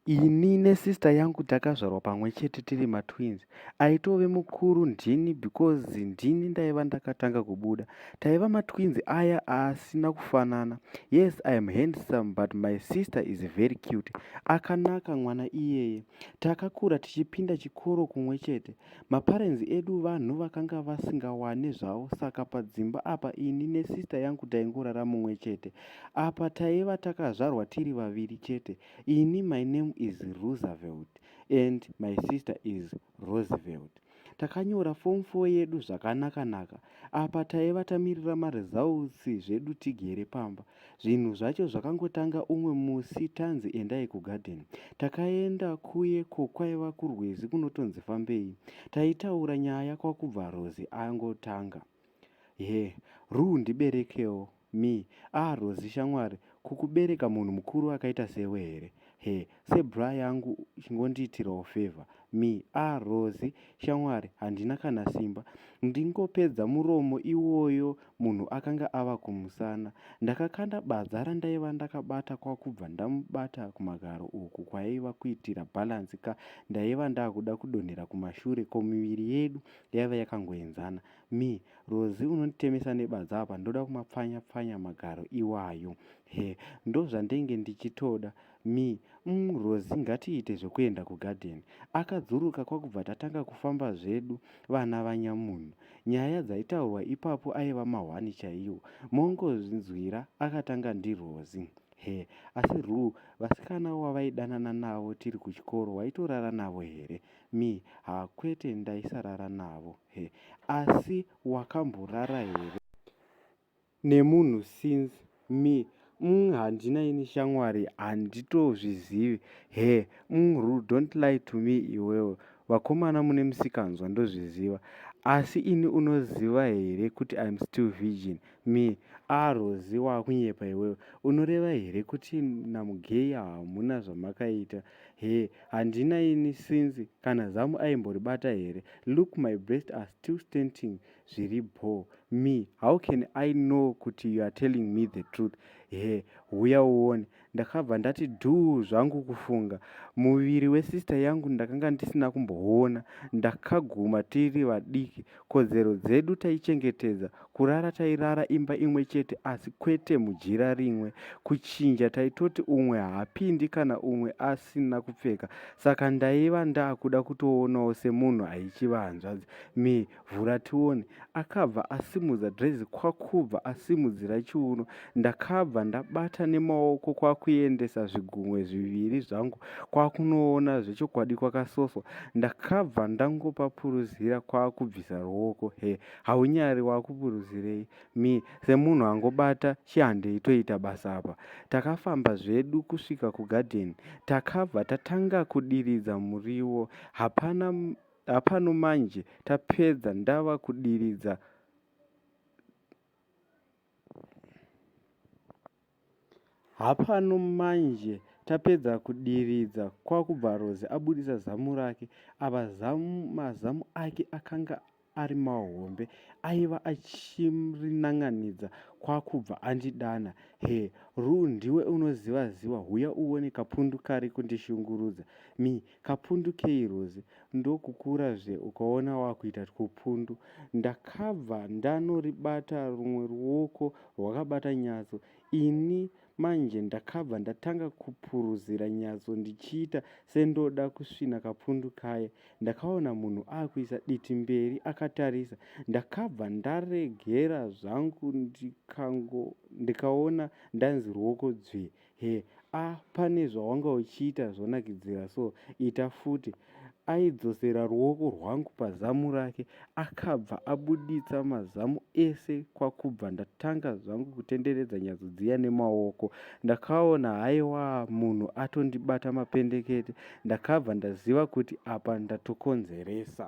ini nesister yangu takazvarwa pamwe chete tiri matwins aitove mukuru ndini because ndini ndaiva ndakatanga kubuda taiva matwins aya asina kufanana yes iam handsome but my sister is very cute akanaka mwana iyeye Takakura tichipinda chikoro kumwe chete. Maparenzi edu vanhu vakanga vasingawane zvavo saka padzimba apa ini nesista yangu taingorara mumwe chete. Apa taiva takazvarwa tiri vaviri chete. Ini my name is Roosevelt and my sister is Roosevelt. takanyora form 4 yedu zvakanaka naka apa taiva tamirira maresults zvedu tigere pamba zvinhu zvacho zvakangotanga umwe musi tanzi endai kugarden takaenda kuye ko kwaiva kurwizi kunotonzi fambei taitaura nyaya kwakubva rozi angotanga he ruu ndiberekewo Me. Ah Rozi shamwari kukubereka munhu mukuru akaita sewe here? Her. Se bra yangu chingondiitirawo favour. Me. Ah Rozi shamwari handina kana simba ndingopedza muromo iwoyo munhu akanga ava kumusana. Ndakakanda badza randaiva ndakabata kwakubva ndamubata kumagaro uku kwaiva kuitira balance ka ndaiva ndakuda kudonhera kumashure ko miviri yedu yaiva yakangoenzana. Me, Rozi unonditemesa nebadza apa ndoda kumapfanya pfanya magaro iwayo. Her, Ndozvandenge ndichitoda. Me, Umm Rozi ngatiite zvekuenda kugarden. Akadzuruka kwakubva tatanga kufamba zvedu vana vanyamunhu. Nyaya dzaitaurwa ipapo aiva mahwani chaiwo. Mongozvinzwira akatanga ndiRozi. Her, Asi Rue vasikana wavaidanana navo tiri kuchikoro waitorara navo here? Me, haa kwete ndaisarara navo. Her, asi wakamborara here nemunhu since? Me, umm handina ini shamwari handitozvizivi. Her, umm Rue don't lie to me iwewe vakomana mune musikanzwa ndozviziva asi ini unoziva here kuti im still virgin. Me, aah Rozi wakunyepa iwewe unoreva here kuti naMugeya hamuna zvamakaita? Hee handina ini since kana zamu aimboribata here look my breast are still stenting zviri bhoo me how can i know kuti you are telling me the truth hee huya uone ndakabva ndati dhuu zvangu kufunga muviri wesister yangu ndakanga ndisina kumboona ndakaguma tiri vadiki Kodzero dzedu taichengetedza, kurara tairara imba imwe chete asi kwete mujira rimwe. Kuchinja taitoti umwe haapindi kana umwe asina kupfeka. Saka ndaiva ndakuda kutoonawo semunhu aichiva hanzvadzi. Me, vhura tione. Akabva asimudza dress kwakubva asimudzira chiuno. ndakabva ndabata nemaoko kwakuendesa zvigunwe zviviri zvangu kwakunoona zvechokwadi kwakasoswa ndakabva ndangopapuruzira kwakubvisa ruoko he haunyari wakupuruzirei mi semunhu angobata chihandei toita basa apa takafamba zvedu kusvika kugadheni takabva tatanga kudiridza muriwo hapana hapano manje tapedza ndava kudiridza Hapano manje tapedza kudiridza kwakubva Rose abudisa zamu rake apa zamu mazamu ake akanga ari mahombe aiva achirinanganidza kwakubva andidana he Rue ndiwe unoziva ziva huya uone kapundu kari kundishungurudza mi Kapundu kei Rose ndokukura zve ukaona wakuita twupundu. Ndakabva ndanoribata rumwe ruoko rwakabata nyatso. Ini manje ndakabva ndatanga kupuruzira nyatso ndichiita sendoda kusvina kapundu kaye. Ndakaona munhu akuisa diti mberi akatarisa. Ndakabva ndaregera zvangu ndikango ndikaona ndanzi ruoko dzvee. Her, Ah pane zvawanga uchiita zvonakidzira so ita futi. Aidzosera ruoko rwangu pazamu rake akabva abuditsa mazamu ese kwakubva ndatanga zvangu kutenderedza nyatso dziya nemaoko. Ndakaona haiwa munhu atondibata mapendekete ndakabva ndaziva kuti apa ndatokonzeresa.